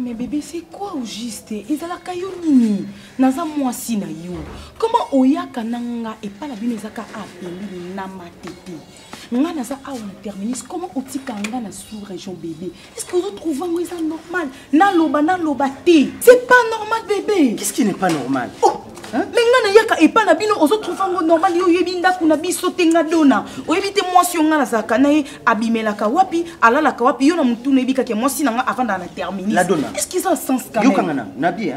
Mais bébé, c'est quoi au juste ezalaka yo nini naza mwasi na yo koma oyaka na nga epai na bino ezaka apeli na matete nga naza awa na terminus koma otika nga na sous région bébé est ce que ozotrouve yango eza normal naloba naloba te c'est pas normal bébé qu'est-ce qui n'est pas normal oh. Hein? me ngai nayaka epai na bino ozotrouve yango normal yo oyebi ndako na biso te nga dona oyebi te mwasi yo ngai nazalaka na ye abimelaka wapi alalaka wapi yo na motu nayebi kaka mwasi na ngai avandaka na terminis est ce que eza sens kayokanga na nabi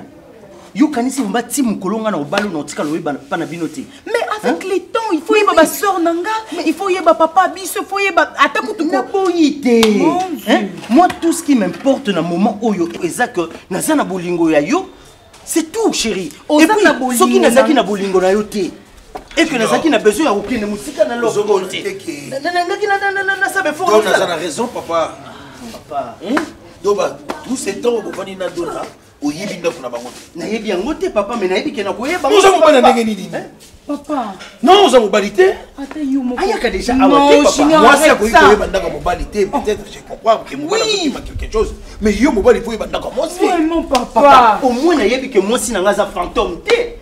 yo kanisi bomba ti mokolo nga na obalo na otikala oyeba pa na bino te mais avec le temps il faut yeba baseur na nga il faut yeba papa biso faut yeba ata kutu naboyi te moi tout ce qui m'importe na moment oyo eza que naza na bolingo ya yo c'est tout chéri epuis soki nazalaki na bolingo na yo te et que nazalaki na besoin ya kokende mosika na lokote nangaki nasaba efornaza na raison papa papa hmm? donc tout ce temps obofani na dona oyebi ndako na bango te nayebi yango te papa me nayebi ke nakoyeba oza mobali ndenge nini eh, papa non oza mobali te ayaka deja awa te papa mwasi akoki koyeba ndako ya mobali te oh. peut-être je comprends ke mobali akokima quelque chose mais yo mobali mpo oyeba ndako ya mwasi vraiment papa au moins nayebi ke mwasi na ngai aza fantôme te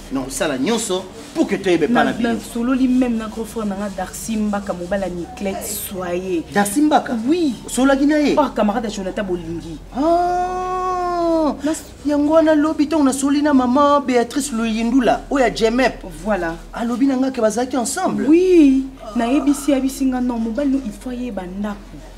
nakosala nyonso pour que toyeba epa na bino nasololi meme na grand frère na nga darcy mbaka mobala niclete soye darcy mbaka oui osololaki na ye oh camarade ya jonathan bolingi ah, yango wana lobi ntango nasoli na mama béatrice loyindula oyo ya jemep voilà alobi na nga ke bazalaki ensemble oui nayebisi yabisi nga non mobali no il faut ayeba ndako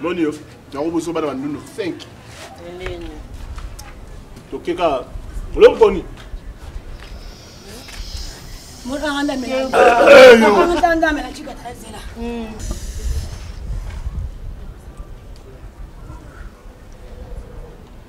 moni yo yango boso bana bandundu 5 toke kaka olokoni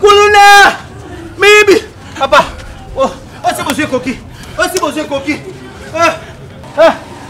kuluna miyibi papa osi bozwi ekoki osi bozwi ekoki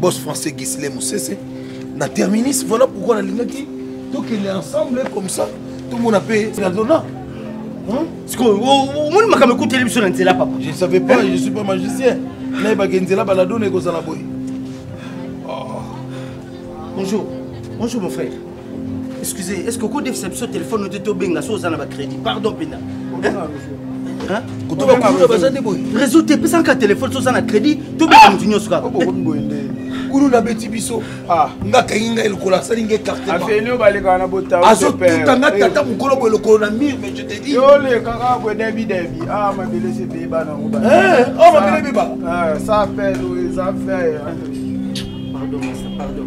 boss français gisle mosese na terminis voilà pourquoi nalingaki tokende ensemble comme ça tomona mpe nadona sikoyo omoni makambo ekuteli biso na nzela papa je savais pas je suis pas magicien nayebaka nzela baladona ekozala boye oh. bonjour bonjour mon frère excusez est ce que okodefisa biso telefone ote tobenga so oza na bacrédit pardon mpena baza nde boye réseau te epesanaka telefone so oza na crédit tobenga motu nyonso kaka kulu nabeti biso ah. nga kangi ngai lokolo asali ngai karteazotuta nga tata mokolo boye lokolo na mire mais je te dis olekaka boye debi debi ah mabele se peye bana ngo eh, oh mabele beba ça eh, pèse ça fait pardon pardon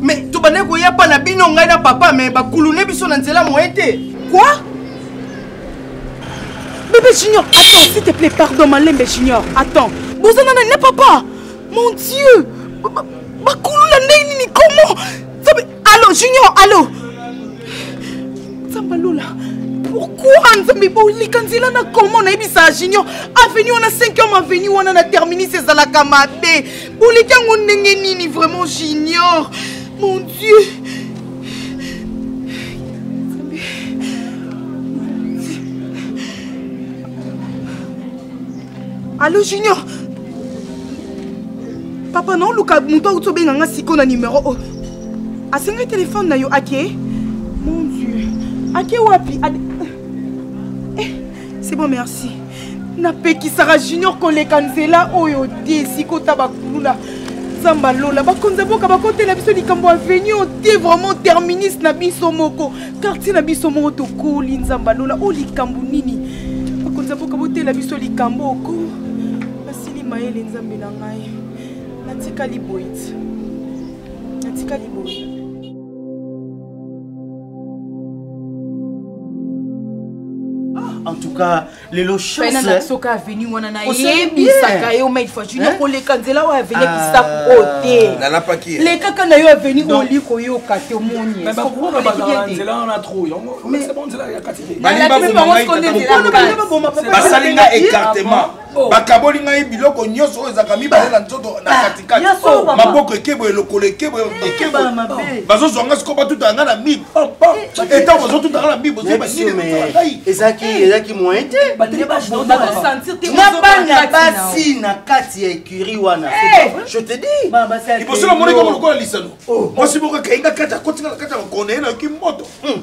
me tobandaki koya pa na bino ngai na papa me bakulune biso na nzela moye te quoi bebe junior attends s'il te plaît pardon malembe junior attends boza nana na papa mon dieu bakuluna ndenge nini comment allo junior allo nzambe alola pourquoi nzambe bolika nzela na comment nayebisa junior avenue wana 5 homme avenue wana na terminus ezalaka mabe oleki yango ndenge nini vraiment j'ignore mon dieu allo junior papa naoluka moto auti obenga nga siko na nimero oyo oh. asengai telefone na yo ake mon dieu ake wapi Ad... eh, c'est bon merci napekisaka junior koleka nzela oyo te sikota bakulula nzambe alola bakonzi ya boka bakotela biso likambo aveni oyo te vraiment terminus na biso moko quartier na biso moko tokoli nzambe alola oyo likambo nini bakonzi ya boka botela biso likambo oko nasili mayele nzambe na ngai natikali boyiti natikali boyiti en tout cas lelo chancesoka aveni wana nayebisaka yo maid fortune koleka nzela oyo aveni ekisaku ah. oyo te lekaka na yo aveni oli koyoka te omoni basali nga écartement Oh. bakaboli ngai biloko nyonso oyo ezalaka mibale na nzoto na katikati oh, maboko ekeboye lokolo ekeboye ekeboye bazozwa ngai sikoyo batutaka ngai na mib etango bazotuta ngai na mib ozobangai ezalaki moyen te na bana basi na kati ya écurie wana eh. je te dis liboso na monaki yango lokola lisano oh. mwasi moko akainga kati akotinga na kati ya makona ye nayoki moto hmm.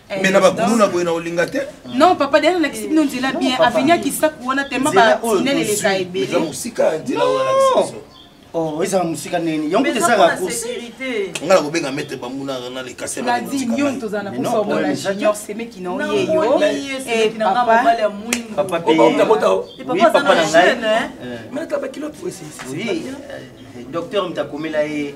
Eh, mais na bakuluna boye na olinga te non papa dea nalakisi bino nzela bien aveni akisaku wana tema batinel eleka ebele oh, ezala mosika nini yango ezalaka kosi nga na kobenga mete bamuna na lekase nadi nyonso tozala na posa omona junior semeki na oyeyo papapapa na ngai docteur mtakomela ye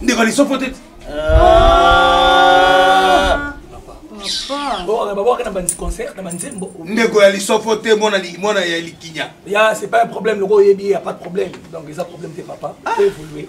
ndeko lisofo te ndeko ya lisofo te mwana ya likinya ya c'est pas un problème loko oyebi ya pas de problème donc eza problème te papa ah. évoluer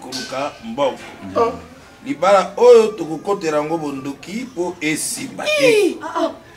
koluka mbongo ah. libala oyo tokokotela yango bondoki mpo esimba te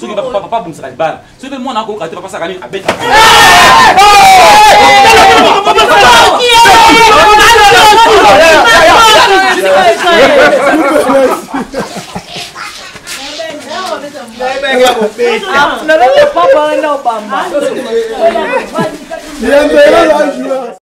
soki papa papa abongisaka libala soki mpe mwana akoyoka te papa asaka nini abeta Papa, não, Obama.